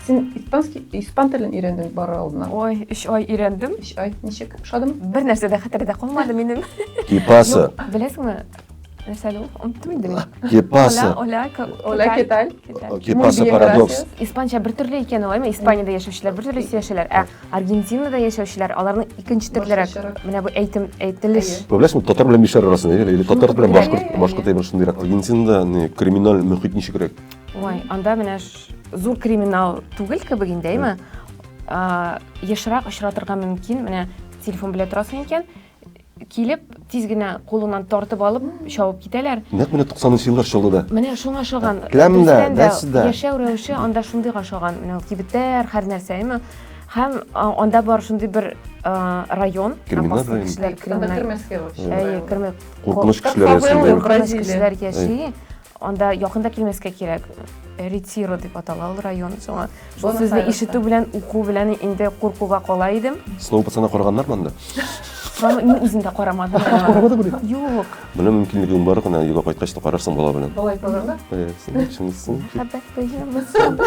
Син испанский, испан телен өйрәндең бары алдына. Ой, өч ай өйрәндем. Өч ай, ничек, ошадымы? Бер нәрсә дә хәтердә калмады минем. Кипаса. Беләсеңме? Нәрсәле ул? Оныттым инде мин. Кипаса. Оля, Оля, кеталь. Кипаса парадокс. Испанча бер төрле икән ул, әйме? Испаниядә яшәүчеләр бер төрле сөйләшәләр. Ә Аргентинада яшәүчеләр, аларның икенче төрлерәк. Менә бу әйтем, әйтелеш. Беләсеңме, татар белән мишәр арасында, или татар белән башкорт, башкорт әйбер шундыйрак. Аргентинада криминаль мөхит ничегрәк? Ой, анда менә Зур криминал түгел кебек инде, әйме? Ешрак очратырга мөмкин, менә телефон белә торасың икән, килеп, тиз генә кулыңнан тартып алып, чабып китәләр. Нәкъ менә 90 еллар чорында да. Менә шуңа ошаган. Келәмдә, нәрсәдә? Яшәү рәвеше анда шундыйга ошаган. Менә кибетләр, һәр нәрсә, әйме? Һәм анда бар шундый бер район, криминал район. Криминал. Кормас кешеләр яши. Анда якын да килмәскә кирәк. Ретиро дип атала ул район. Шуңа шул Бонус сүзне аерылса. ишетү белән, уку белән инде куркуга кала идем. Сноу пацана караганнар монда. Шуңа мин үзем дә карамадым. Карамады бу. Юк. Менә мөмкинлегең бар гына, юга кайткач та карарсың бала белән. Болай булырмы? Э, син чынлысын. Хәбәт тоямысың?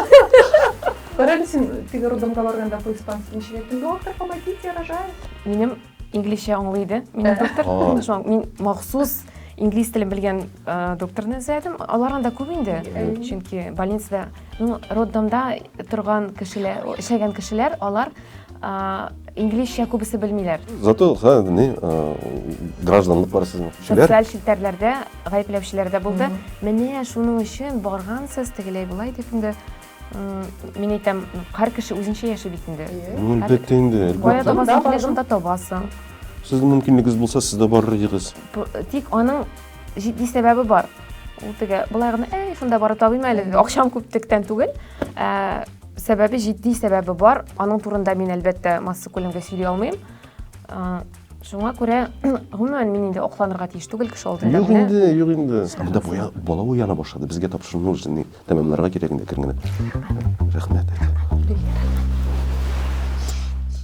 Бара әле син теге роддомга барганда по-испански ничек әйттең? Доктор, помогите, я рожаю. Минем Инглизчә аңлый иде. Минем доктор, Ага. шуңа мин махсус инглиз телен белгән э, докторны эзләдем. Алар анда күп инде, э, чөнки больницада, ну, роддомда торган кешеләр, эшләгән кешеләр, алар э, инглизчә күбесе белмиләр. Зато, ха, не, а, гражданлык бар сезнең. Шулар? Социаль челтәрләрдә гаепләүчеләр дә булды. Менә шуның өчен баргансыз, тегеләй-болай дип инде Мин әйтәм, һәр кеше үзенчә яши бит инде. Әлбәттә инде. Кая табасың килә, шунда табасың. Сез мөмкинлегегез булса, сез дә барыр идегез. Тик аның җитди сәбәбе бар. Ул теге былай гына, "Әй, шунда барып табыйм әле, акчам күптектән түгел." Ә сәбәбе җитди сәбәбе бар. Аның турында мин әлбәттә масса күләмгә сөйли алмыйм. Шуңа күрә, гомумән, мин инде акланырга тиеш түгел кеше алдында. Юк инде, юк инде. Анда бала уяна башлады. Безгә тапшыру нужный. Тәмамларга кирәк инде кер генә. Рәхмәт.